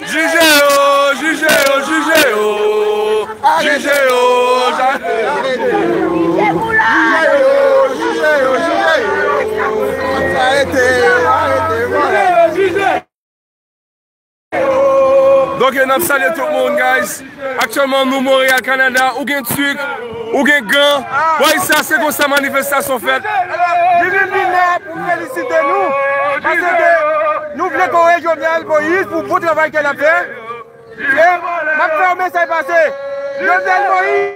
Jije yo, jije yo, jije yo, jije yo, jije yo. Ok nap salye tout moun guys. Aktyèlman nou Montréal Canada ou gen tuque ou gen gan way sa se konsa manifestasyon fèt. Nou vin vin la pou felisite nou paske nou vle kore Jovenel Moïse pou bon travay ke lap fè e map fè yon mesaj pase Jovenel Moïse.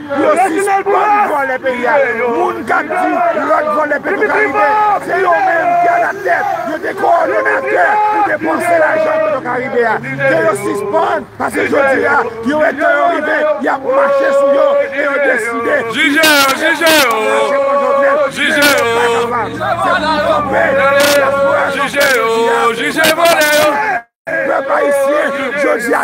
Yo sispann vòlè peyi a. Moun k ap di lòt vòlè petwokaribe se yo menm ki alatèt, yo te kowòdonatè pou depanse lajan petwokaribe a. Ke yo sispann pase jodi a yo wè tan yo rive y ap mache sou yo e yo deside ki yo ap fè pou yo pa mache kon Jovenel men yo pa kapab. Se pou yo kanpe, se pou yo fwayanse jodi a pou yo pa pase. Pèp ayisyen jodi a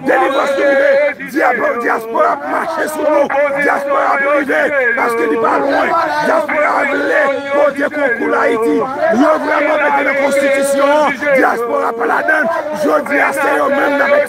delivrans nou rive dyaspora ap mache sou nou dyaspora ap rive paske li pa lwen dyaspora vle pote konkou la ayiti yo vreman mete nan konstitisyon an dyaspora pa ladann jodi a se yo menm nan mèt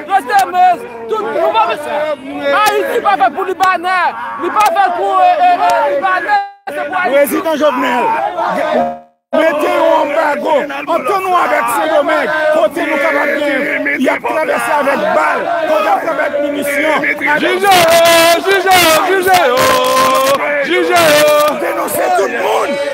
Rete mez, tout nou pa mez. Ayiti pa fèt pou libanè, li pa fèt pou libanè. Prezidan Jovenel, mete yon anbago antre nou avèk Sendomeng, kote nou kapab gen, y ap travèse avèk bal, kote y ap travèse avèk minisyon. Jije yo, jije yo, jije yo, jije yo. Denonse tout moun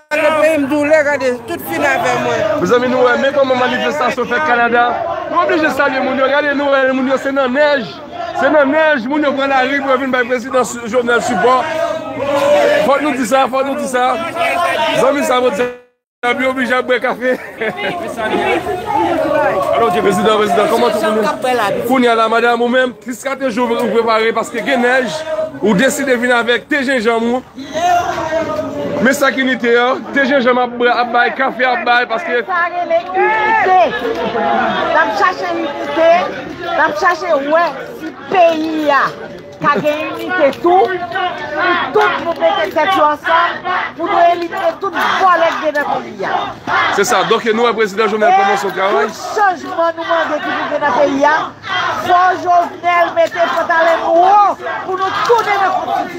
Mezanmi nou wè men kòman manifestasyon fèt Kanada Nou oblije salye moun yo gade nou wè moun yo se nan nèj Se nan nèj moun yo pran lari pou yo vin bay prezidan Jovenel sipò Fòk nou di sa fòk nou di sa Zanmi sa vòt diab yo oblije ap bwè kafe Prezidan prezidan kòman tout moun yo Kounya la madam ou menm 3 4 jou ou prepare paske gen nèj ou deside vin avèk te jenjanm ou Men sak inite an. Te jenjanm ap bwè ap bay kafe ap bay paske. Moun sa rele inite. Lap chache inite. Lap chache wè si peyi a ka gen inite tou. Pou tout moun mete tèt yo ansanm. Pou nou elimine tout vòlè ki gen nan peyi a. Se sa. Donke nou wè prezidan Jovenel kòman son travay. E tout chanjman nou mande ki pou gen nan peyi a. Fò Jovenel mete pantalèn nou wo. Pou nou tounen nan konstitisyon.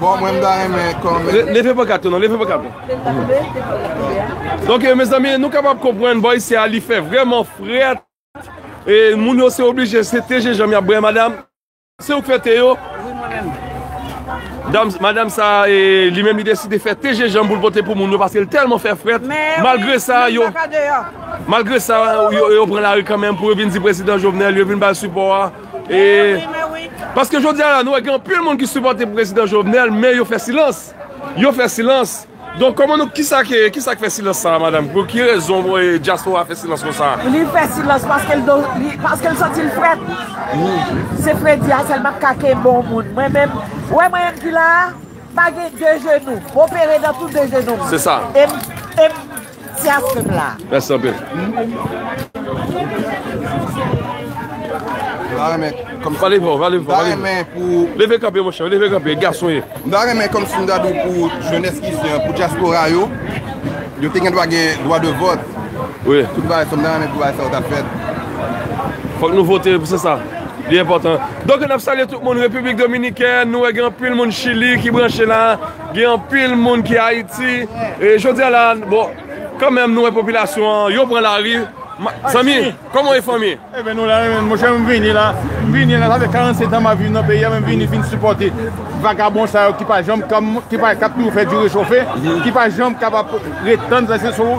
Bon mwen mda renmen kòmè. Leve pankàt ou non, leve pankàt ou. Leve pankàt ou non. Donk mezanmi nou kapab konprann bòy sè a li fè vrèman frèt. E moun yo se oblije se te jenjanm yap bwè madam. Se ou k fè te yo? Wi mwen menm. Dam, madam sa e li menm li deside fè te jenjanm pou l pote pou moun yo paske l tèlman fè frèt. Mè wi, malgre sa yo. Menm baka deyò. Malgre sa yo pran lari kanmenm pou yo vin di prezidan Jovenel, yo vin bal sipò a. E Paske jodi a la nou wè gen anpil moun ki sipòte prezidan Jovenel men yo fè silans yo fè silans donk kòman nou kisa ke kisa k fè silans sa a madam pou ki rezon dyaspora fè silans konsa. Li fè silans paske l paske l santi l frèt se fredi a sèl m ap ka ke bon moun mwen menm ou wè mwen m ki la a pa gen de jenou m opere nan tou de jenou m e m e m Tias pep la. Merci anpil. M ta renmen kòm Pale fò, pale fò, pale fò. Leve kanpe monchè, leve kanpe, gason ye. M ta renmen kòm si m ta di w pou jenès ki ici an, pou dyaspora yo, yo te gen dwa gen dwa de vòt. Wi. Tout bagay sa, m ta renmen pou bagay sa yo ta fèt. Fòk nou vote, se sa. Li enpòtan. Donk n ap salye tout moun Repiblik Dominikèn, nou wè gen anpil moun Chili ki branche la. Gen anpil moun ki Ayiti. E jodi a la, bon, kan menm nou wè popilasyon an, yo pran lari. Zanmi, kòman e fanmi? E ben nou la men, monchè m vini la. M vini la, sa fè 47 an m ap viv nan peyi a men m vini vin sipòte vagabon sa yo ki pa janm, ki ap toujou fè di rechofe, ki pa janm kapab ret tann,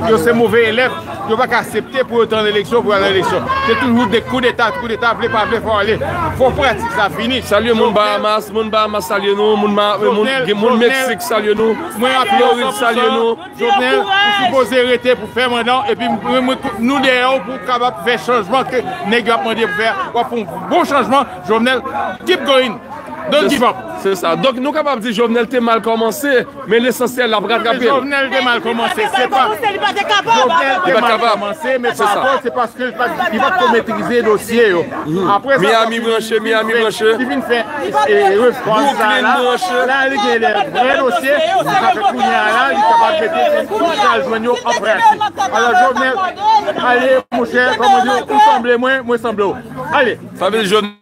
yo se move elèv. Yo pa ka asepte pou yo te an eleksyon, pou yo al nan eleksyon. Se toujou de koudeta, koudeta, vle pa vle fò ale. Fò pratik sa fini. Salye moun Bahamas, moun Bahamas salye nou, moun Mexique salye nou, Floride salye nou. Jovenel, ou sipoze rete pou fè manda w epi nou dèyè w pou w kapab fè chanjman ke nèg yo ap mande pou w fè a. W ap fè yon bon chanjman Jovenel. Keep going! Don't give up! Se sa. Donk nou kapab di Jovenel te mal kòmanse. Men lesansyèl lap ratrapel. Jovenel te mal komanse se pa. Li pa te kapab. Li pa t kapab. Men pa fo se paske li pat li pat ko metrize dosye yo. Aprè sa Miami branche Miami branche. Li vin fè refòm sa la. La li gen de vrè dosye. Sa fè kounya la li kapab mete li pral jwenn yo an pratik. Alò Jovenel ale monchè kòm ou di ou sanble mwen mwen sanble w. Ale. Sa vle di Jovenel.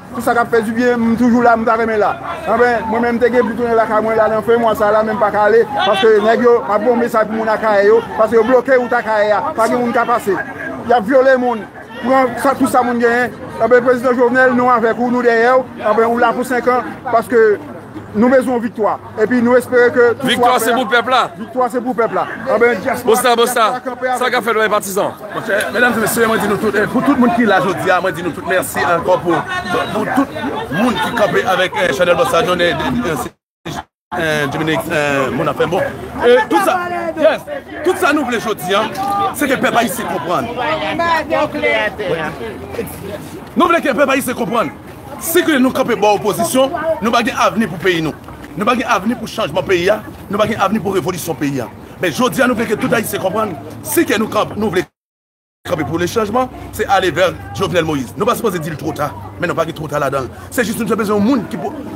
Pou sa kap fè du byen m toujou la m ta renmen la anfen mwen menm m te gen pou tounen lakay mwen la nan fen mwa sa la men m paka ale paske nèg yo map voye mesaj pou moun akayè yo paske yo bloke wout akayè a pa gen moun ka pase yap vyole moun pran tout sa moun genyen anfen prezidan jovenel nou avèk ou nou dèyèw anfen ou la pou 5 an paske nou bezwen yon viktwa. Epi nou espere ke tout swa fè. Viktwa se pou pèp la. Viktwa se pou pèp la. Anben diaspora. Bosta bosta. Sa ka fèt wè patizan. Monchè, medam se mesye, mwen di nou tout, pou tout moun ki la jodi a, mwen di nou tout mèsi ankò pou pou tout moun ki kanpe avèk chanèl bosta jone Dominique moun afèm bon. E tout sa, yes, tout sa nou vle jodi a, se ke pèp ayisyen konprann. Nou vle ke pèp ayisyen konprann. Si ke nou kanpe bò opozisyon, nou pa gen avni pou peyi nou. Nou pa gen avni pou chanjman peyi a, nou pa gen avni pou revolisyon peyi a. Men jodi a nou vle ke tout Ayisyen konprann, si ke nou kanpe, nou vle kanpe pou le chanjman, se ale vè Jovenel Moïse. Nou pa sipoze di li two ta, men nou pa gen two ta ladan l. Se jis nou te bezwen yon moun ki pou.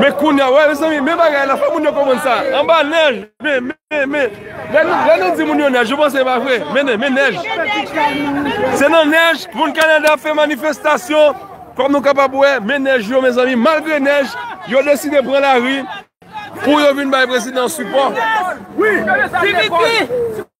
Men kounye a, wè mezanmi, men bagay la, fò moun yo konprann sa. Anba nèj, men, men, men. Lè nou di moun yo nèj, yo panse e pa vre. Men, men nèj. Se nan nèj, moun Kanada ap fè manifestasyon, kòm nou kapab wè, men nèj yo mezanmi. Malgre nèj, yo deside pran lari pou yo vin bay prezidan sipò.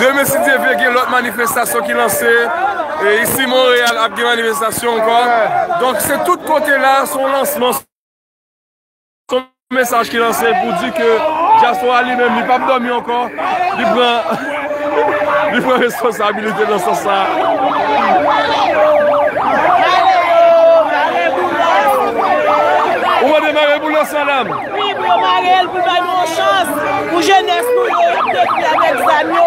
Demen si Dye vle gen lòt manifestasyon ki lanse, e isi Monreyal ap gen manifestasyon ankò. Donk se tout kote la se yon lansman, se yon mesaj ki lanse pou di ke dyaspora li menm li pap dòmi ankò, li pran li pran responsabilite nan sans sa a. Wi pou yo marel poul bay nou yon chans pou jenès nou yo yap detwi avèk zam yo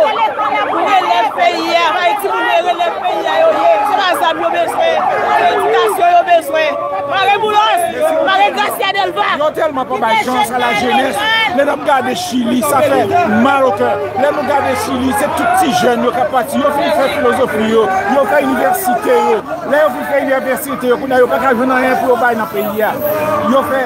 pou relèv peyi a bay timoun yo relèv peyi a yo ye se pa zam yo bezwen se edikasyon yo bezwen mare boulos mare gracia delva Yo telman pa bay chans a la jenès lè nap gade chili sa fè mal au cœur lè nou gade chili se tout ti jèn yo kap pati yo fin fè filozofi yo yo fè inivèsite yo lè yo fin fè inivèsite yo kounya yo paka jwenn anyen pou yo bay nan peyi a yo fè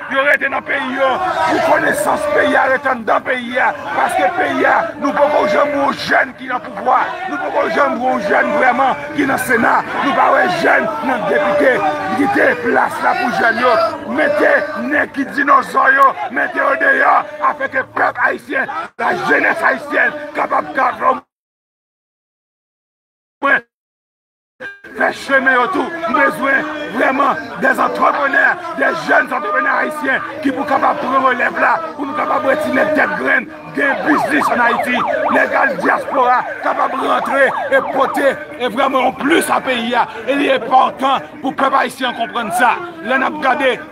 Yo rete nan peyi yo pou konesans peyi a rete anndan peyi a paske peyi a nou poko janm wè yon jèn ki nan pouvwa nou poko janm wè yon jèn vrèman ki nan sena nou pa wè jèn nan depite kite plas la pou jèn yo mete nèg ki dinòzò yo mete yo deyò afè ke pèp ayisyen la jenès ayisyèn kapab ka fè yon mwen. fè chemen yo tou. M bezwen vrèman des entrepreneurs, des jeunes entrepreneurs haïtiens ki pou kapab pran relèv la pou nou kapab wè ti nèg tèt grenn gen biznis an Ayiti. Nèg al diaspora kapab rantre e pote e vrèman yon plis a peyi a. E li enpòtan pou pèp ayisyen an konprann sa. Lè n ap gade.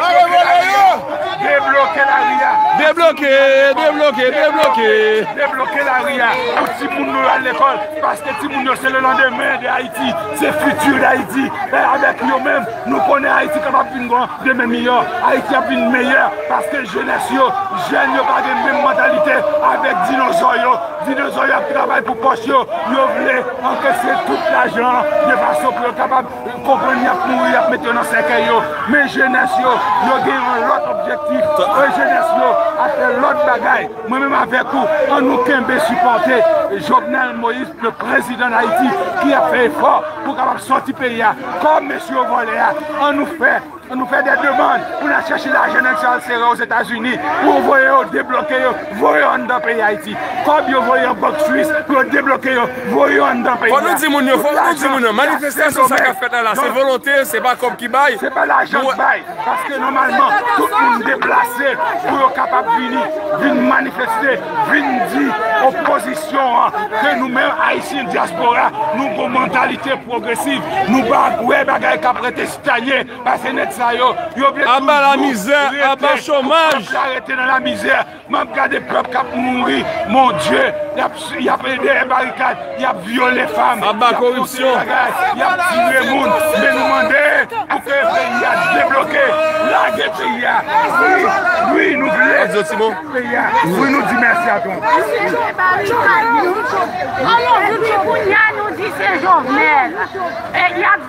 Mare vòlè yo! Debloke lari a! Debloke, debloke, debloke! Debloke lari a pou timoun nou yo al lekòl paske timoun yo se le landemen de Ayiti, se fiti Dayiti e avèk yo menm nou konnen Ayiti kapab vin bon demen miyò. Ayiti ap vin meyè paske jenès yo, jèn yo pa gen menm mantalite avèk dinozò yo. Dinozò yo ap travay pou pòch yo, yo vle ankesye tout lajan an de fason pou yo kapab. Yo konprann y ap mouri, y ap mete yo nan sèkèy yo, men jenès yo, yo gen yon lòt objektif. E jenès yo ap fè lòt bagay. Mwen menm avèk ou, an nou kenbe sipòte Jovenel Moïse, le prezidan dayiti, ki ap fè efò pou kapab sòti peyi a. Kòb mesye yo vòlè a, an nou fè. An nou fè de demann pou n al chèche lajan nèg sa yo al sere yo Ozetazini pou yo voye yo debloke yo voye yo anndan peyi Ayiti. Kòb yo voye an bank swis pou yo debloke yo voye yo anndan peyi a. Fòk nou di moun yo, fòk nou di moun yo manifestasyon sa k ap fèt la la se volonte, se pa kòb ki bay. Se pa lajan k bay paske nòmalman tout moun deplase pou yo kapab vini vin manifeste vin di opozisyon an ke nou menm Ayisyen dyaspora nou gon mantalite pwogresiv nou pa wè bagay k ap rete. Danie pase nèg sa yo yo vle toujou aba la mizè aba chomaj pèp la rete nan la mizè map gade pèp kap mouri mon Dieu yap yap dèyè barikad yap vyole fanm aba koripsyon yap fè tout bagay yap tire moun men nou mande pou ke peyi a debloke lage peyi a wi wi nou vle lage peyi a wi nou di mèsi a Trump. Mwen site barikad nou, alò depi kounya nou di se Jovenel e yap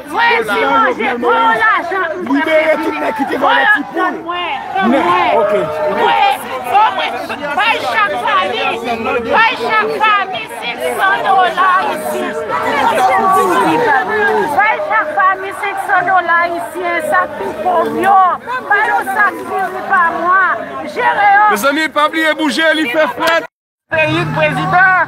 Voyez yo manje gro lajan m pwè prezime voyez yo tann mwen tann mwen voye bon mwen bay chak fanmi bay chak fanmi 500 dola ayisyen bay chak fanmi 500 dola ayisyen sak pi pov yo ba yo sak diri pa mwa jere yo. Mezanmi pa bliye bouje li fè frèt. Peyi k prezidan.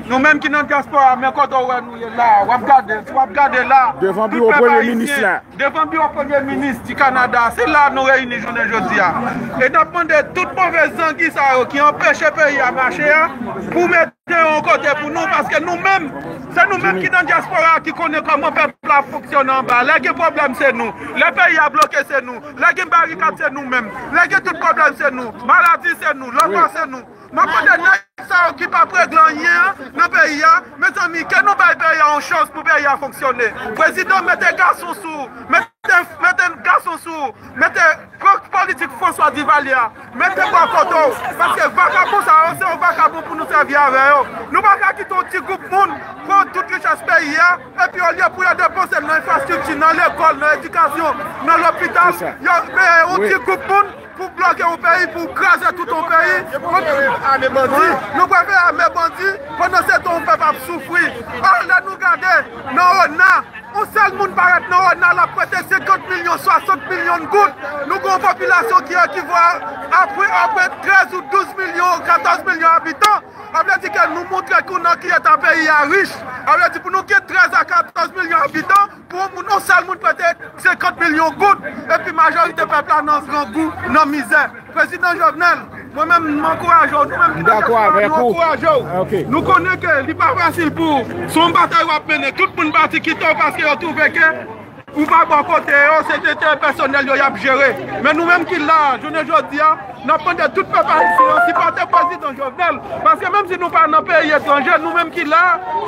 Nou menm ki nan diaspora men kote w wè nou ye la wap gade si wap gade la tout pèp ayisyen devan biwo premye minis di kanada se la nou reyini jounen jodi a e nap mande tout move zangi sa yo ki anpeche peyi a mache a pou mete yo kote pou nou paske nou menm se nou menm ki nan diaspora ki konnen koman pèp la ap fonksyone anba lè gen pwoblèm se nou lè peyi a bloke se nou lè gen barikad se nou menm lè gen tout pwoblèm se nou maladi se nou lòtman se nou. Map mande neg sa yo ki pap regle anyen nan peyi a mezanmi ke nou bay peyi a yon chans pou peyi a fonksyone prezidan mete gason sou ou mete gason sou ou mete pran politik François Duvalier a mete bò kote w paske vakabon sa yo se yon vakabon pou nou sèvi avè yo nou paka kite yon ti group moun pran tout richès peyi a epi olye pou yo depanse l nan enfrastrikti nan lekòl nan edikasyon nan lopital yo mete yon ti group moun Pou bloke yon peyi pou kraze tout yon peyi. Nou pral fè ame bandi. Nou pral fè ame bandi pandan se tan yon pèp ap soufri. An lè nou gade nan ona yon sèl moun parèt nan ona lap prete 50 milyon 60 milyon goud nou gen yon popilasyon ki ekivo a ape 13 ou 12 milyon 14 milyon abitan a vle di ke nou montre ke nan ki eta peyi a rich a vle di pou nou gen 13 a 14 milyon abitan Pou moun yon sèl moun prete 50 milyon goud epi majorite pèp la nan grangou, nan mizè. Prezidan Jovenel, mwen menm m ankouraje w, nou menm ki nan dyaspora nou ankouraje w. Nou konnen ke li pa fasil pou ou, se yon batay w ap mennen. Tout moun pati kite w paske yo twouve ke ou pa bò kote yo, se enterè pèsonèl yo y ap jere. Men nou menm ki la a jounen jodi a. Nap mande tout pèp ayisyen an sipòte prezidan Jovenel paske menm si nou pa nan peyi etranje nou menm ki la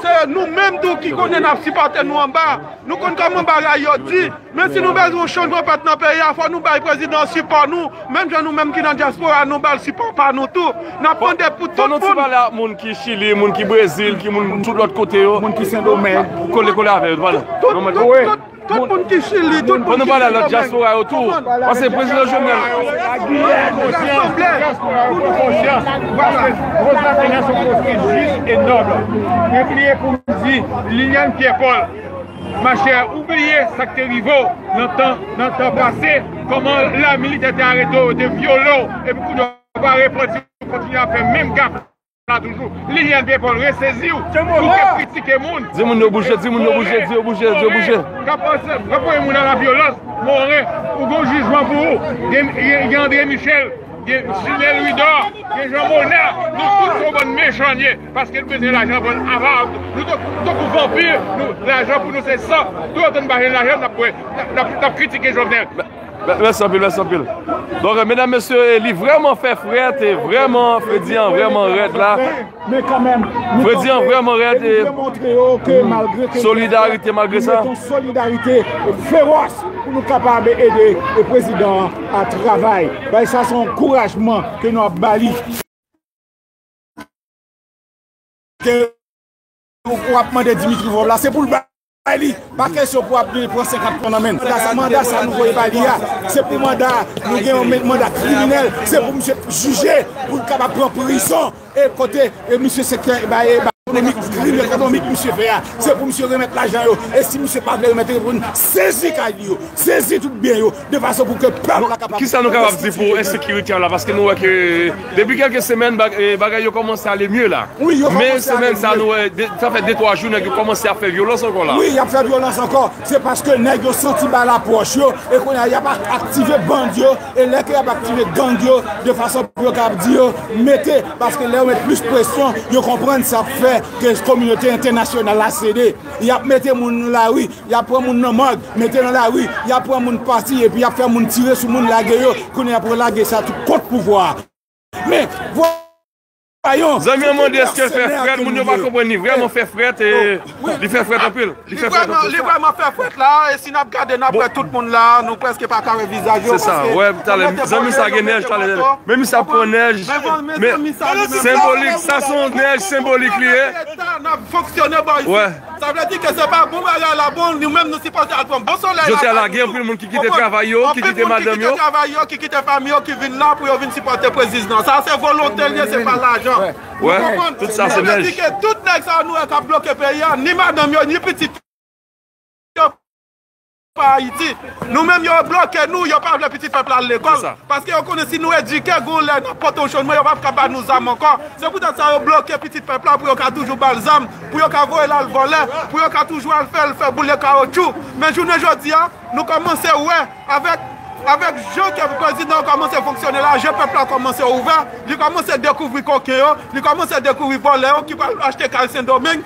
se nou menm tou ki konnen nap sipòte nou anba nou konn kòman bagay yo di men si nou bezwen yon chanjman fèt nan peyi a fò nou bay prezidan an sipò nou menm jan nou menm ki nan dyaspora nou bal sipò pa nou tou nap mande pou tout moun. Fò nou ti pale ak moun ki chili moun ki brezil ki moun tout lòt kote yo moun ki sendomeng kole kole avè yo nou pale. Tout moun ki chili, tout moun ki sendomeng. An nou pale a lòt dyaspora yo tou. Pase prezidan Jovenel. Giyèn nou sanble. Dyaspora yo pran konsyans. Pase prezidan Jovenel son poste jis e nòb. Mwen pliye pou m di Liliane Pierre Paul. Ma chè ou bliye sa k te rive w nan tan nan tan pase. Kòman la militè te arete w yo te vyole w. Epi kounye w pa repanti w kontinye ap fè menm gaf. la toujou. Lilian Depol reseziw pou kap kritike moun. Di moun yo bouje, di moun yo bouje, di yo bouje, di yo bouje. Moren kap panse kap voye moun a la vyolans, Moren ou gon jijman pou ou. Gen André Michel, gen Simé Louidor, gen Jean Monard, nou tout son bann mechan n ye paske n bezwen lajan bann avara nou tankou vanpir, lajan pou nou se san, tout otan n pa jwenn lajan nap kritike Jovenel. Mèsi anpil, mèsi anpil. Donk, medam, mesye, li vreman fè frèt, e vreman, fredi an vreman rèd la. Men kanmenm, fredi an vreman rèd, e solidarite malgre sa. Yon solidarite fewòs pou nou kapab ede e prezidan an a travay. Bay sa son kourajman ke nou ap bali. Ke ou ap mande Dimitri Vorbe la, se pou l bay. bay li, pa kesyon pou ap vin pran 50 plon nan menn, manda sa nou voye bay li a, se pou manda a, nou gen yon manda kriminèl, se pou misye jije, pou l kapab pran prizon, e kote misye sektè bay ekonomik, krim ekonomik misye fè a, se pou misye remèt lajan yo, e si misye pa vle remèt yo, pou nou sezi kay li yo, sezi tout byen yo. de fason pou ke pèp la kapab restituye. Kisa nou kapab di pou ensekirite an la paske nou wè ke depi kelke semèn bagay yo kòmanse ale mye la men semèn sa nou wè sa fè de twa jou nèg yo kòmanse ap fè vyolans ankò la. Wi yap fè vyolans ankò se paske nèg yo santi bal la pwòch yo e kounye a yap aktive band yo e lè ke yap aktive gang yo de fason pou yo kapab di yo mete paske lè yo met plis presyon yo konprann sa fè ke kominote entènasyonal la sede yap mete moun nan lari Yap pran moun nan mòg mete nan lari, yap pran moun pati epi yap fè moun tire sou moun lage yo, kounye yap relage sa tou kont pouvwa a. Men vwayon! Zanmi an mande eske fè frèt moun yo pa konprann li vrèman fè frèt e li fè frèt anpil li fè frèt anpil. Li vrèman fè frèt la e si nap gade nap wè tout moun la nou prèske pa ka wè vizaj yo paske yo mete bò yo yo mete manto men mi sa pran nèj men senbolik sa son nèj senbolik li ye. Nap fonksyone bò isi. Sa vle di ke se pa bon bagay la bon nou menm nou sipoze al pran bon solèy la Jodia la gen anpil moun ki kite travay yo, ki kite madanm yo. Anpil moun ki kite travay yo, ki kite fanmi yo ki vin la pou yo vin sipòte preziznan. Sa se volonte l ye se pa lajan. Wè, tout sa se nèj. Sa vle di ke tout nèg sa yo nou wè kap bloke peyi a, ni madanm yo, ni pitit yo. pa Haiti. Nou menm yo bloke nou, yo pa vle pitit pèp la al lekòl, paske yo konnen si nou edike gon lè nap pote yon chonjman yo pap ka ba nou zam ankò, se pou tèt sa yo bloke pitit pèp la pou yo ka toujou bal zam, pou yo ka voyel al vòlè, pou yo ka toujou al fèl fè boule kawotchou, men jounen jodia nou kòmanse wè avèk avèk jan ke prezidan an kòmanse fonksyone la je pèp la kòmanse ouvè, li kòmanse dekouvri koken yo, li kòmanse dekouvri vòlè yo ki pral achte kay sendomeng.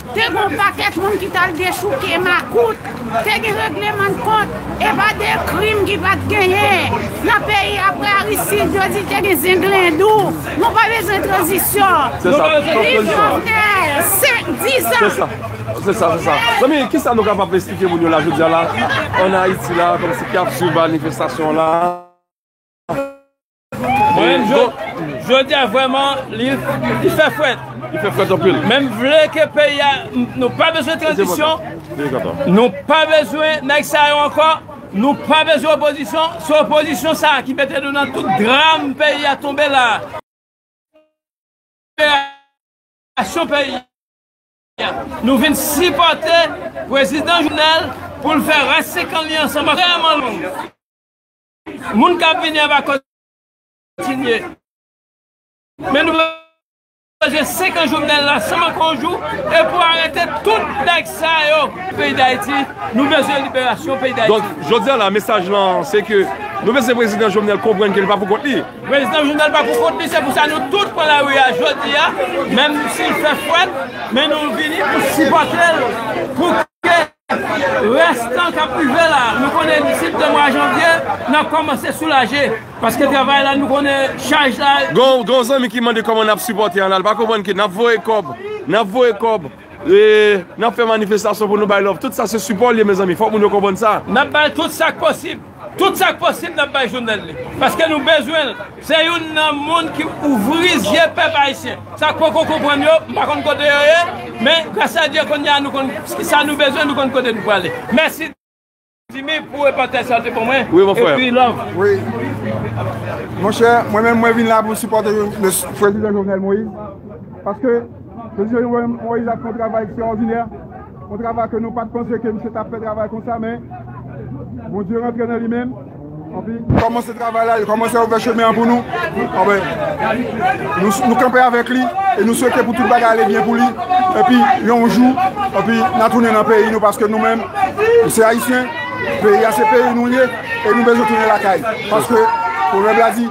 Te gen yon pakèt moun ki t al dechouke makout, te gen reglemandkont, evade krim ki pa t genyen nan peyi aprè Aristide, yo di te gen zenglendou, nou pa bezwen tranzisyon. Viv Jovenel! 5, 10 ans! Mwen menm jodi a vrèman li fè frèt. Li fè frèt anpil. Men m vle ke peyi a nou pa bezwen tranzisyon, nou pa bezwen nèg sa yo ankò, nou pa bezwen opozisyon, se opozisyon sa ki mete nou nan tout dram peyi a tonbe la a. Liberasyon peyi a. Nou vin sipòte prezidan Jovenel pou l fè rès 5 an li ansanm ak peyi a. Moun kap vini an va kontinye. Men nou manje 5 an jovenel la san manke yon jou e pou arete tout nèg sa yo. Peyi dayiti nou bezwen liberasyon peyi dayiti. Donk jodi a la mesaj lan se ke nou bezwen prezidan jovenel konprann ke li pa pou kont li. Prezidan jovenel pa pou kont li se pou sa nou tout pran lari a jodi a menm si l fè fwèt men nou vini pou sipòte l pou ke. Rès tan k ap rive la, nou konnen disip de mwa janvye n ap kòmanse soulaje paske travay la nou konnen chaj la. Gon zanmi ki mande kòman n ap sipòte an la, li pa konprann ke n ap voye kòb, n ap voye kòb, n ap fè manifestasyon pou nou bay love, tout sa se sipò l ye mezanmi, fòk moun yo konprann sa. N ap bay tout sa k posib. Tout sak posib nap bay jounal li paske nou bezwenl se youn nan moun ki ouvri zye pèp ayisyen sak poko konprann yo m pa konn kote yo ye men gras a Dye konnya nou konn sa nou bezwen nou konn kote nou prale mèsi Dimy pou repòtaj sa ou te ban mwen epi love. Wi monchè mwen menm mwen vin la pou sipòte prezidan Jovenel Moïse paske. Prezidan Jovenel Moïse ap fè yon travay ekstraòdinè, yon travay ke nou pat panse ke misye tap fè travay konsa men Bondye rantre nan li menm epi li kòmanse travay la, li kòmanse ouvè chemen an pou nou, anben nou kanpe avèk li e nou swete pou tout bagay ale byen pou li epi yon jou epi na tounen nan peyi nou paske nou menm nou se ayisyen, peyi a se peyi nou ye e nou bezwen tounen lakay paske pwovèb la di.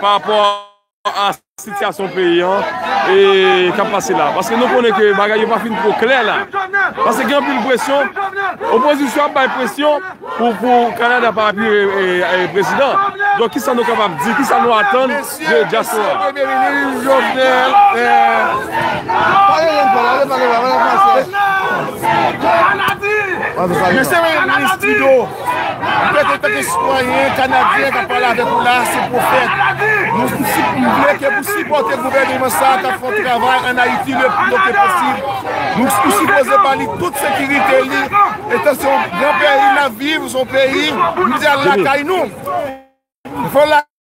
pa rapò a sitiyasyon peyi an e k ap pase la paske nou konnen ke bagay yo pa fin twò klè la paske gen anpil presyon opozisyon an ap bay presyon pou kanada pa apiye prezidan donk ki sa nou kapab di ki sa nou atann de dyaspora premye minis jovenel mesye minis trudeau Pèp antanke sitwayen kanadyen kap pale avèk ou la se pwofèt. Nou vle ke pou sipòte gouvèneman sa a kap fè yon travay an Ayiti le pli to ke posib. Nou sipoze ba li tout sekirite li etan se yon gran peyi nap viv, se yon peyi nou di al lakay nou.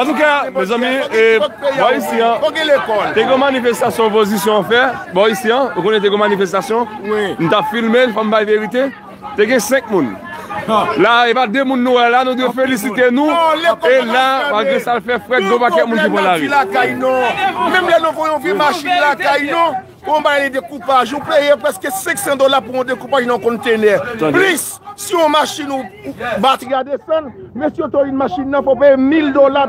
Antouka mezanmi e bò isi an te gen yon manifestasyon opozisyon an fè bò isi an ou konnen te gen yon manifestasyon m tap filme l fòm bay verite te gen 5 moun la e pa 2 moun nou wè la nou dwe felisite nou e la malgre sa l fè frèt gen yon pakèt moun ki pran lari. Konpayi dekoupaj, ou peye prèske 500 dola pou yon dekoupaj nan konntenè. Plis, si yon machin ou batri a desann, mesye otorine machin nan fè w peye 1000 dola.